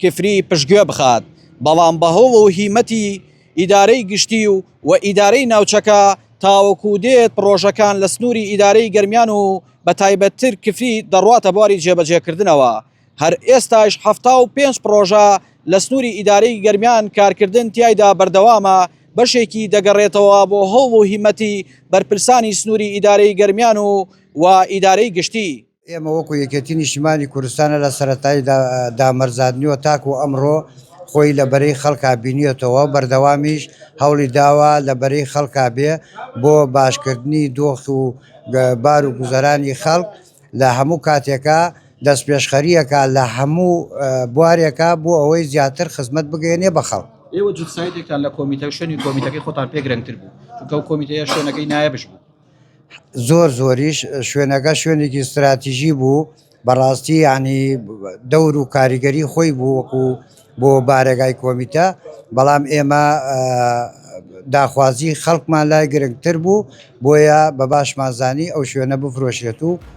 کفری پشتگوێ بخات، بەڵام بەهۆ و هیمەتی ئیدارەی گشتی و و ئیدارەی ناوچەکە تاوەکو دێت پڕۆژەکان لە سنوری ئیدارەی گەرمیان و بە تایبەتتر کفری دەڕواتە بواری جێبەجێکردنەوە هەر ئێستایش حەفتا و پێنج پڕۆژە لە سنوری ئیدارەی گەرمیان کارکردن تیایدا بەردەوامە بەشێکی دەگەڕێتەوە بۆ هەوڵ و هیمەتی بەرپرسانی سنوری ئیدارەی گەرمیان و و ئیدارەی گشتی ئێمە وەکو یەکێتی نیشتیمانی کوردستانە لە سەرەتای دامەرزاندنیەوە تاکو ئەمڕۆ خۆی لە بەرەی خەڵکا بینیەتەوە بەردەوامیش هەوڵی داوە لە بەرەی خەڵکا بێ بۆ باشکردنی دۆخ و بار و گوزەرانی خەڵک لە هەموو کاتێکە دەست پێشخەریەکە لە هەموو بوارێکە بۆ ئەوەی زیاتر خزمەت بگەێنێ بە خەڵک. ئێوە جوت سایدێکتان لە کۆمیتە و شوێنی کۆمیتەکەی خۆتان پێ گرنگتر بوو چونکە ئەو کۆمیتەیە شوێنەکەی نایەبش بوو. زۆر زۆریش شوێنەکە شوێنێکی ستراتیژی بوو بەڕاستی ینی دەور و کاریگەری خۆی بوو وەکو بۆ بارەگای کۆمیتە بەڵام ئێمە داخوازی خەڵکمان لای گرنگتر بوو بۆیە بە باشمانزانی ئەو شوێنە بفرۆشێت و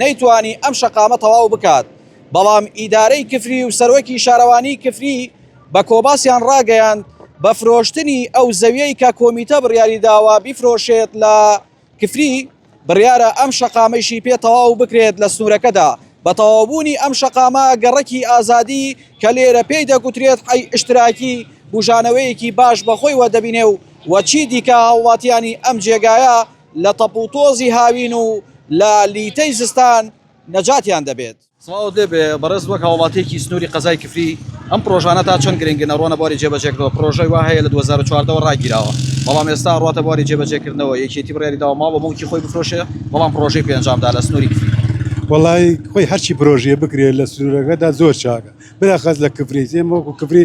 نەیتوانی ئەم شەقامە تەواو بکات، بەڵام ئیدارەی کفری و سەرۆکی شارەوانیی کفری بە کۆباسیان ڕاگەیاند بە فرۆشتنی ئەو زەویەی کە کۆمیتە بڕیاری داوە بیفرۆشێت لە کفری، بڕیارە ئەم شەقامەیشی پێ تەواو بکرێت لە سنوورەکەدا. بە تەواوبوونی ئەم شەقامە گەڕەکی ئازادی کە لێرە پێی دەگوترێت حەی ئشتراکی بوژانەوەیەکی باش بە خۆیوە دەبینێ و چی دیکە هاوڵاتییانی ئەم جێگایە لە تەپ و تۆزی هاوین و لە لیتەی زستان نەجاتیان دەبێت. سڵاوت لێ بێ بەڕێز وەک هاوڵاتیەکی سنوری قەزای کفری ئەم پرۆژانە تا چەند گرنگن ئەڕوانە بواری جێبەجێکردنەوە پرۆژەی وا هەیە لە دوو هەزار و چواردە وە ڕاگیراوە بەڵام ئێستا ئەڕواتە بواری جێبەجێکردنەوە یەکێتی بڕیاری داوە ماڵ و موڵکی خۆی بفرۆشێ بەڵام پرۆژەی پێ ئەنجام دا لە سنوری کفری. وەڵای خۆی هەرچی پرۆژیە بکرێت لە سنورەکەدا زۆر چاکە بلەخەس لە کفری ئێمە وەکو کفری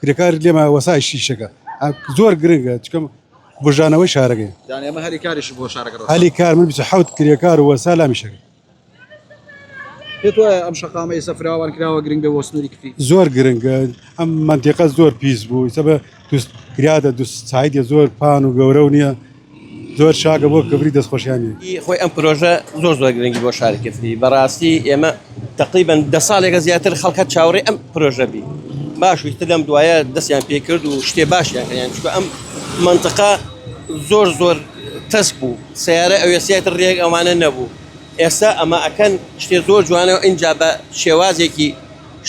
کرێکار لێمە وەسای شیشەکە زۆر گرنگە چکەم بژانەوەی شارەکەی هەلی کاریش بۆ شارەکە هەلی کار من حوت کرێکار وە سالامی شەکە ئەم شقامەی سەفراوان کراوە گرنگ بە وەسنووری کفی زۆر گرنگە ئەم منتیقە زۆر پیس بوو سەبە کرادە دو سایدە زۆر پان و گەورە و نییە زۆر چاکە بۆ کفری دەست خۆشیانی. ئی خۆی ئەم پرۆژە زۆر زۆر گرنگی بۆ شاری کفری بەڕاستی ئێمە تەقریبەن دە ساڵێکە زیاتر خەڵک هەر چاوەڕێ ئەم پرۆژە بی باش ویتر لەم دوایە دەستیان پێ کرد و شتێ باشیان کردیان چونکە ئەم منطقە زۆر زۆر تەسک بوو سیارە ئەوێسیاتر ڕێک ئەوانە نەبوو ئێستا ئەمە ئەکەن شتێ زۆر جوانە و ئینجا بە شێوازێکی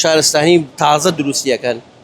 شارستانی تازە دروستیەکەن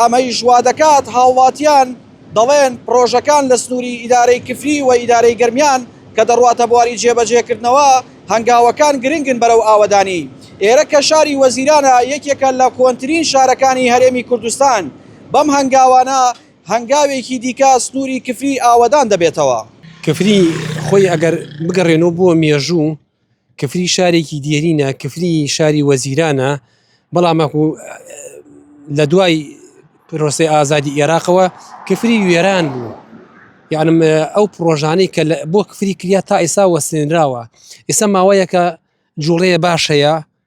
ئەمەیش وادەکات هاوڵاتیان دەڵێن پڕۆژەکان لە سنوری ئیدارەی کفری و ئیدارەی گەرمیان کە دەڕواتە بواری جێبەجێکردنەوە هەنگاوەکان گرنگن بەرەو ئاوەدانی ئێرە کە شاری وەزیرانە یەکێکە لە کۆنترین شارەکانی هەرێمی کوردستان بەم هەنگاوانە هەنگاوێکی دیکە سنوری کفری ئاوەدان دەبێتەوە. کفری خۆی ئەگەر بگەڕێنەوە بۆ مێژوو، کفری شارێکی دێرینە کفری شاری وەزیرانە بەڵام وەکو لە دوای پرۆسی ئازادی ئێراقەوە کفری وێران بوو یانم ئەو پرۆژانەی کە بۆ کفری کریا تا ئێسا وەسێنراوە ئێستا ماوەیەکە جوڵەیە باشەیە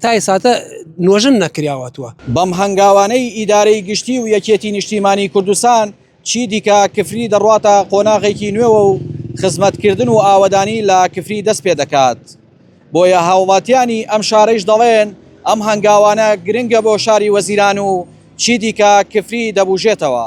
تا ئێساتە نۆژن نەکراوەتوە. بەم هەنگاوانەی ئیدارەی گشتی و یەکێتی نیشتیمانی کوردستان چی دیکە کفری دەڕواتە قۆناغێکی نوێوە و خزمەتکردن و ئاوەدانی لە کفری دەست پێ دەکات بۆیە هاوڵاتیانی ئەم شارەیش دەڵێن ئەم هەنگاوانە گرنگە بۆ شاری وەزیران و چی دیکە کفری دەبوژێتەوە.